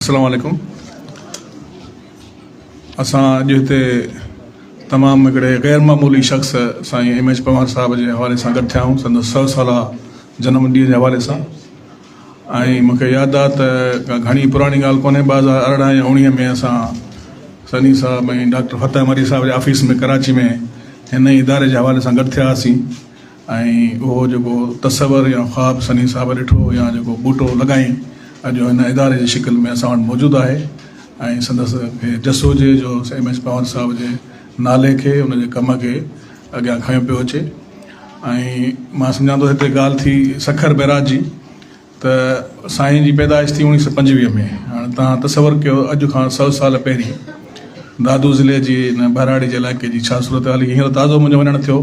اسلام عليڪم اسان اڄ هتي تمام هڪڙي غير معمولي شخص سائين ايم ايچ پنوار صاحب جي حوالي سان گڏ ٿيا آهيون سندس سو سالا جنم ڏينهن جي حوالي سان ۽ مون کي ياد آهي ته ڪا گهڻي پراڻي ڳالهه ڪونهي ٻه هزار ارڙهن يا اوڻيهه ۾ اسان سني صاحب ۽ ڊاڪٽر فتح مري صاحب جي آفيس ۾ ڪراچي ۾ هن اداري جي حوالي سان گڏ ٿيا هئاسين ۽ اهو جيڪو تصور يا خواب سني صاحب ڏٺو يا جيڪو ٻوٽو لڳائين اڄ هن اداري جي شڪل ۾ اسان وٽ موجود آهي ۽ سندس کي جس هجي جو ايم ايڇ پنهور صاحب جي نالي کي ان جي ڪم کي اڳيان کنيو پيو اچي ۽ مان سمجهان ٿو هتي ڳالهه ٿي سکر بيراج جي ته سائين جي پيدائش ٿي اوڻيهه سو پنجويهه ۾ هاڻي تان تصور ڪيو اڄ کان سو سال پهرين دادو ضلعي جي ان ٻهراڙي جي علائقي جي ڇا صورتحال هئي هينئر تازو منهنجو وڃڻ ٿيو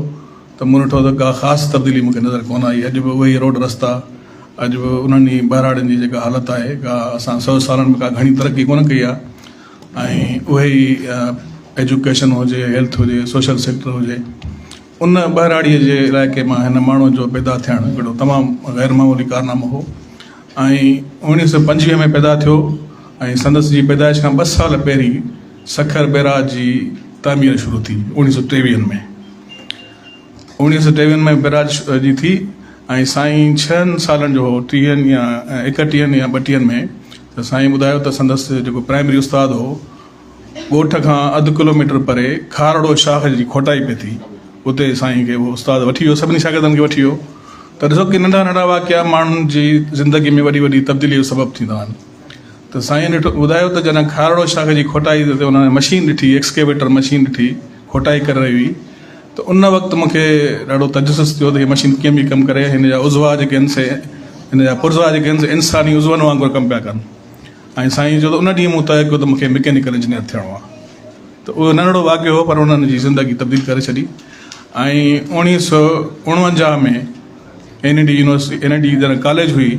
ته مون ڏٺو ته ڪا خاص تبديلي مون کي نظر ڪونه آئي، اڄ به اهي ئي روڊ رستا، اڄ به انهن ئي ٻهراڙين جي جيڪا حالت آهي، ڪا اسان سو سالن ۾ ڪا گهڻي ترقي ڪونه ڪئي آهي ۽ اهي ئي ايجوڪيشن هجي، هيلٿ هجي، سوشل سيڪٽر هجي، ان ٻهراڙيء جي علائقي مان هن ماڻهوء جو پيدا ٿيڻ هڪڙو تمام غير معمولي ڪارنامو هو ۽ اوڻيهه سؤ پنجويهه ۾ پيدا ٿيو ۽ سندس جي پيدائش کان ٻه سال پهرين سکر بيراج جي تعمير شروع ٿي اوڻيهه سؤ ٽيويهن ۾ اوڻيهه سؤ ٽيويهن ۾ بيراج جي ٿي ۽ سائين ڇهن سالن جو هو ٽيهن يا ايڪٽيهن يا ٻٽيهن ۾ ته سائين ٻڌايو ته سندس جيڪو پرائمري استاد هو ڳوٺ کان اڌ ڪلوميٽر پري کارڙو شاخ جي کوٽائي پئي ٿي اتي سائين کي اهو استاد وٺي ويو سڀني شاگردن کي وٺي ويو ته ڏسو ڪي ننڍا ننڍا واقعا ماڻهن جي زندگي ۾ وڏي وڏي تبديلي جو سبب ٿيندا آهن ته سائين نيٺ ٻڌايو ته جڏهن کارڙو شاخ جي کوٽائي تي انهن جي مشين ڏٺي، ايڪسڪيويٽر مشين ڏٺي، کوٽائي ڪري رهي هئي ته ان وقت مون کي ڏاڍو تجسس ٿيو ته هيء مشين ڪيئن پئي ڪم ڪري، هن جا عضوا جيڪي آهن سي هن جا پرزا جيڪي آهن سي انساني عضون وانگر ڪم پيا ڪن ۽ سائين چيو ته ان ڏينهن مون طئي ڪيو ته مون کي مڪينيڪل انجنيئر ٿيڻو آهي ته اهو ننڍڙو واقعو هو پر انهن جي زندگي تبديل ڪري ڇڏي ۽ اوڻيهه سؤ اڻونجاهه ۾ N E D university N E D جڏهن ڪاليج هئي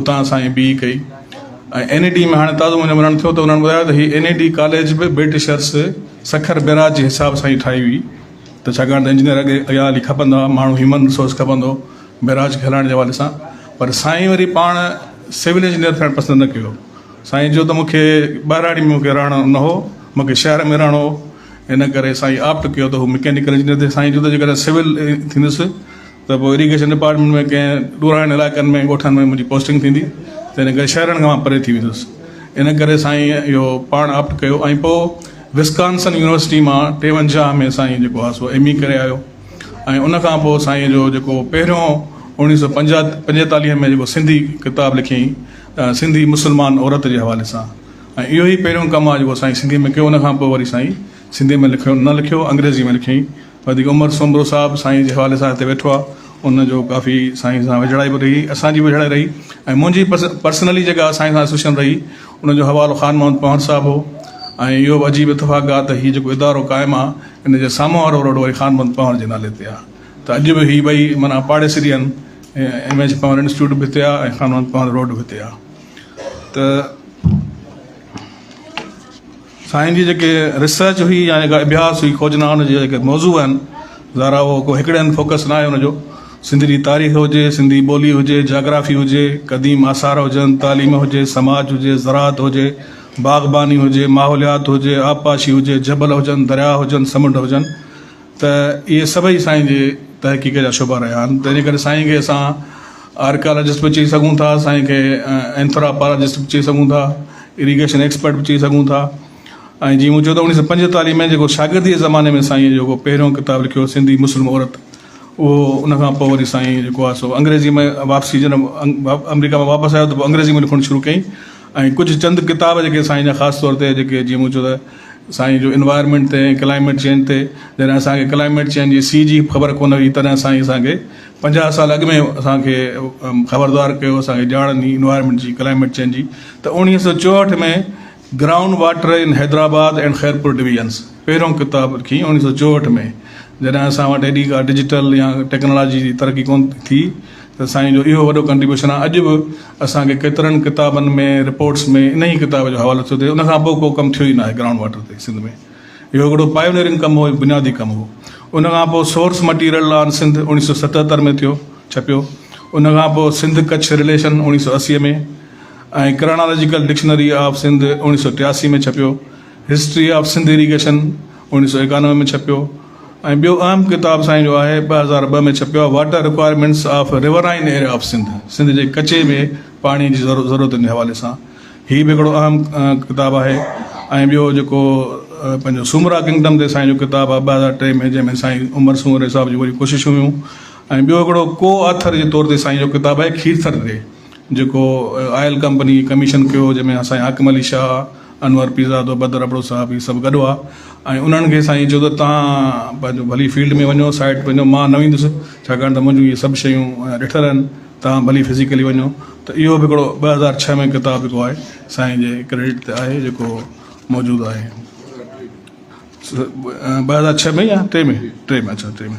اتان اسان ايم بي اي ڪئي ۽ اين اي ڊي ۾ هاڻي تازو منهنجو ملڻ ٿيو ته انهن ٻڌايو ته هي اين اي ڊي ڪاليج به برٽشرس سکر بيراج جي حساب سان ئي ٺاهي هئي ته ڇاڪاڻ ته انجنيئر اڳي اڳيان هلي کپندا ماڻهو هيومن رسورس کپندو بيراج کي هلائڻ جي حوالي سان پر سائين وري پاڻ سول انجنيئر ٿيڻ پسند نه ڪيو سائين جو ته مونکي ٻهراڙي ۾ مونکي رهڻو نه هو مونکي شهر ۾ رهڻو هو ان ڪري سائين آپٽ ڪيو ته هو مڪينڪل انجنيئر ٿي سائين جو ته جيڪڏهن سول ٿيندس ته پوء اريگيشن ڊپارٽمينٽ ۾ ڪنهن ڏورانهين علائقن ۾ ڳوٺن ۾ منهنجي پوسٽنگ ٿيندي تنهن ڪري شهرن کان مان پري ٿي ويندس ان ڪري سائين اهو پاڻ آپٽ ڪيو ۽ پوء وسڪانسن يونيورسٽي مان ٽيونجاهه ۾ سائين جيڪو آهي سو ايم اي ڪري آيو ۽ ان کان پوء سائين جو جيڪو پهريون اوڻيهه سو پنجاهه پنجيتاليهه ۾ جيڪو سنڌي ڪتاب لکيائين سنڌي مسلمان عورت جي حوالي سان ۽ اهو ئي پهريون ڪم آهي جيڪو سائين سنڌي ۾ ڪيو ان کان پوء وري سائين سنڌي ۾ لکيو نه لکيو انگريزي ۾ لکيائين وڌيڪ عمر سومرو صاحب سائين جي حوالي سان هتي ويٺو آ ان جو ڪافي سائين سان ويجهڙائي به رهي اسان جي به ويجهڙائي رهي ۽ منهنجي پرسنلي جيڪا سائين سان اسوسيئن رهي ان جو حوالو خان محمد پنهور صاحب هو ۽ اهو به عجيب اتفاق آ ته هي جيڪو ادارو قائم آ ان جي سامهون وارو روڊ وري خان محمد پنهور جي نالي تي آ ته اڄ به هي ٻئي معنيٰ پاڙيسري آهن ايم ايڇ پنهور انسٽيٽيوٽ به هتي آ ۽ خان محمد پنهور روڊ به هتي آ ته سائين جي جيڪي ريسرچ هئي يا جيڪا اڀياس هئي کوجنا ان جي جيڪي موضوع آهن ظاهرا هو ڪو هڪڙي هنڌ فوڪس ناهي ان جو سنڌ جي تاريخ هجي سنڌي ٻولي هجي جاگرافي هجي قديم آثار هجن تعليم هجي سماج هجي زراعت هجي باغباني هجي ماحوليات هجي آبپاشي هجي جبل هجن درياء هجن سمنڊ هجن ته اهي سڀئي سائين جي تحقيق جا شعبا رهيا آهن تنهنجي ڪري سائين کي اسان آرڪيالاجسٽ به چئي سگهون ٿا سائين کي اينٿراپالاجسٽ به چئي سگهون ٿا اريگيشن ايڪسپرٽ به چئي سگهون ٿا ۽ جيئن مون چيو ته اوڻيهه سؤ پنجيتاليهه ۾ جيڪو شاگردي جي زماني ۾ سائين جيڪو پهريون ڪتاب لکيو سنڌي مسلم عورت اهو ان کان پوء وري سائين جيڪو آهي سو انگريزي ۾ واپسي جڏهن آمريڪا مان واپس آيو ته پوء انگريزي ۾ لکڻ شروع ڪيائين ۽ ڪجهه چند ڪتاب جيڪي سائين جا خاص طور تي جيڪي جيئن مون چيو ته سائين جو انوائرمينٽ تي ڪلائميٽ چينج تي جڏهن اسان کي ڪلائميٽ چينج جي سي جي خبر ڪونه هئي تڏهن سائين اسان کي پنجاهه سال اڳ ۾ اسان کي خبردار ڪيو اسان کي ڄاڻ ڏني انوائرمينٽ جي ڪلائميٽ چينج جي ته اوڻيهه سو چوهٺ ۾ ground water in Hyderabad and Khairpur divisions پهريون ڪتاب لکي اوڻيهه سو چوهٺ ۾ جڏهن اسان وٽ ايڏي ڪا ڊجيٽل يا ٽيڪنالاجي جي ترقي ڪونه ٿي ته سائين جو اهو وڏو ڪنٽريبيوشن آهي اڄ به اسان کي ڪيترن ڪتابن ۾ رپورٽس ۾ انهي ئي ڪتاب جو حوالو ٿيو ٿئي ان کان پوء ڪو ڪم ٿيو ئي ناهي گرائونڊ واٽر تي سنڌ ۾ اهو هڪڙو پائونيئرنگ ڪم هو بنيادي ڪم هو ان کان پوء سورس مٽيريل آن سنڌ اوڻيهه سؤ ستهتر ۾ ٿيو ڇپيو ان کان پوء سنڌ ڪڇ رليشن اوڻيهه سؤ اسي ۾ ۽ ڪرانالاجيڪل ڊڪشنري آف سنڌ اوڻيهه سؤ ٽياسي ۾ ڇپيو هسٽري آف سنڌ اريگيشن اوڻيهه سؤ ايڪانوي ۾ ڇپيو ۽ ٻيو اهم ڪتاب سائين جو آهي ٻه هزار ٻه ۾ ڇپيو آهي water requirements of riverine area of Sindh Sindh جي ڪچي ۾ پاڻي جي ضرورتن جي حوالي سان هي به هڪڙو اهم ڪتاب آهي ۽ ٻيو جيڪو پنهنجو سومرا ڪنگڊم تي سائين جو ڪتاب آهي ٻه هزار ٽي ۾ جنهن ۾ سائين عمر سومري صاحب جون وڏيون ڪوششون هيون ۽ ٻيو هڪڙو ڪو آٿر جي طور تي سائين جو ڪتاب آهي کيرٿر تي جيڪو آئل ڪمپني کي ڪميشن ڪيو جنهن ۾ سائين حاڪم علي شاهه، انور پيرزادو، بدر ابڙو صاحب هي سڀ گڏ هئا ۽ انهن کي سائين چيو ته توهان پنهنجو ڀلي فيلڊ ۾ وڃو سائيٽ تي وڃو مان نه ويندس ڇاڪاڻ ته منهنجون اهي سڀ شيون ڏٺل آهن توهان ڀلي فزيڪلي وڃو ته اهو به هڪڙو ٻه هزار ڇهه ۾ ڪتاب جيڪو آهي سائين جي ڪريڊٽ تي آهي جيڪو موجود آهي ٻه هزار ڇهه ۾ يا ٽي ۾ ٽي ۾ اڇا ٽي ۾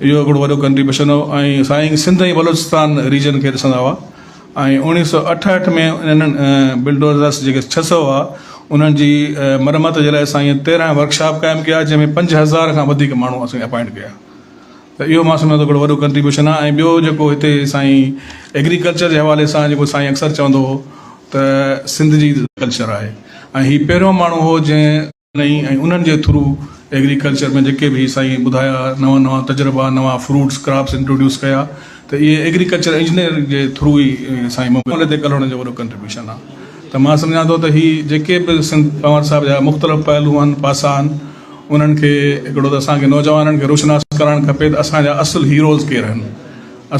اهو هڪڙو وڏو ڪنٽريبيوشن هو ۽ سائين سنڌ ۽ بلوچستان ريجن کي ڏسندا هئا ۽ اوڻيهه سؤ اٺهٺ ۾ انهن بلڊوزرس جيڪي ڇهه سؤ هئا انهن جي مرمت جي لاء سائين تيرهن ورڪشاپ قائم ڪيا جنهن ۾ پنج هزار کان وڌيڪ ماڻهو اسين اپائنٽ ڪيا ته اهو مان سمجهان ٿو هڪڙو وڏو ڪنٽريبيوشن آهي ۽ ٻيو جيڪو هتي سائين ايگريڪلچر جي حوالي سان جيڪو سائين اڪثر چوندو هو ته سنڌ جي ڪلچر آهي ۽ هي پهريون ماڻهو هو جنهن ۽ انهن جي ٿرو ايگريڪلچر ۾ جيڪي به سائين ٻڌايا نوان نوان تجربا نوان فروٽس ڪراپس انٽروڊيوس ڪيا ته اهي ايگريڪلچر انجنيئر جي ٿرو ئي سائين مقبولي تي ڪلهوڙن جو وڏو ڪنٽريبيوشن آ ته مان سمجهان ٿو ته هي جيڪي به سنڌ پنهور صاحب جا مختلف پهلو آهن پاسا آهن انهن کي هڪڙو ته اسان کي نوجوانن کي روشناس ڪرائڻ کپي ته اسان جا اصل هيروز ڪير آهن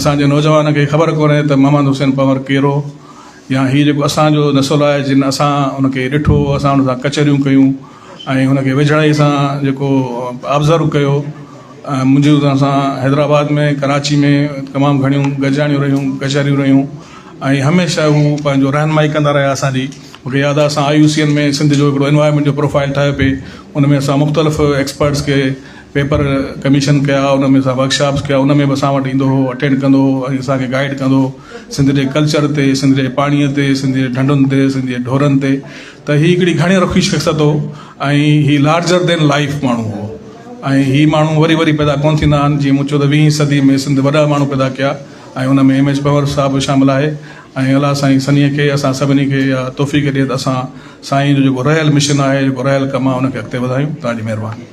اسان جي نوجوان کي خبر ڪونهي ته محمد حسين پنهور ڪير هو يا هي جيڪو اسان جو نسل آهي جن اسان ان کي ڏٺو اسان ان سان ڪچهريون ڪيون ۽ ان کي ويجهڙائي سان جيڪو آبزرو ڪيو منهنجي ان سان حيدرآباد ۾ ڪراچي ۾ تمام گهڻيون گڏجاڻيون رهيون ڪچهريون رهيون ۽ هميشه هو پنهنجو رهنمائي ڪندا رهيا اسان جي مون کي ياد آهي اسان I U C N ۾ Sindh جو هڪڙو انوائرمينٽ جو پروفائل ٺاهيو پئي ان ۾ اسان مختلف ايڪسپرٽس کي پيپر ڪميشن ڪيا ان ۾ اسان ورڪشاپس ڪيا ان ۾ به اسان وٽ ايندو هو اٽينڊ ڪندو هو ۽ اسان کي گائيڊ ڪندو هو سنڌ جي ڪلچر تي سنڌ جي پاڻي تي سنڌ جي ڍنڍن تي سنڌ جي ڍورن تي ته هي هڪڙي گهڻي رخي شخصيت هو ۽ هي لارجر دين لائف ماڻهو هو ۽ هي ماڻهو وري وري پيدا ڪون ٿيندا آهن جيئن مون چيو ته ويهين صدي ۾ سنڌ وڏا ماڻهو پيدا ڪيا ۽ ان ۾ ايم ايڇ پنور صاحب به شامل آهي ۽ الله سائين سنيهه کي اسان سڀني کي اها توفيق ڏي ته اسان سائين جو جيڪو رهيل مشن آهي جيڪو رهيل ڪم آهي ان کي اڳتي وڌايون تان جي مهرباني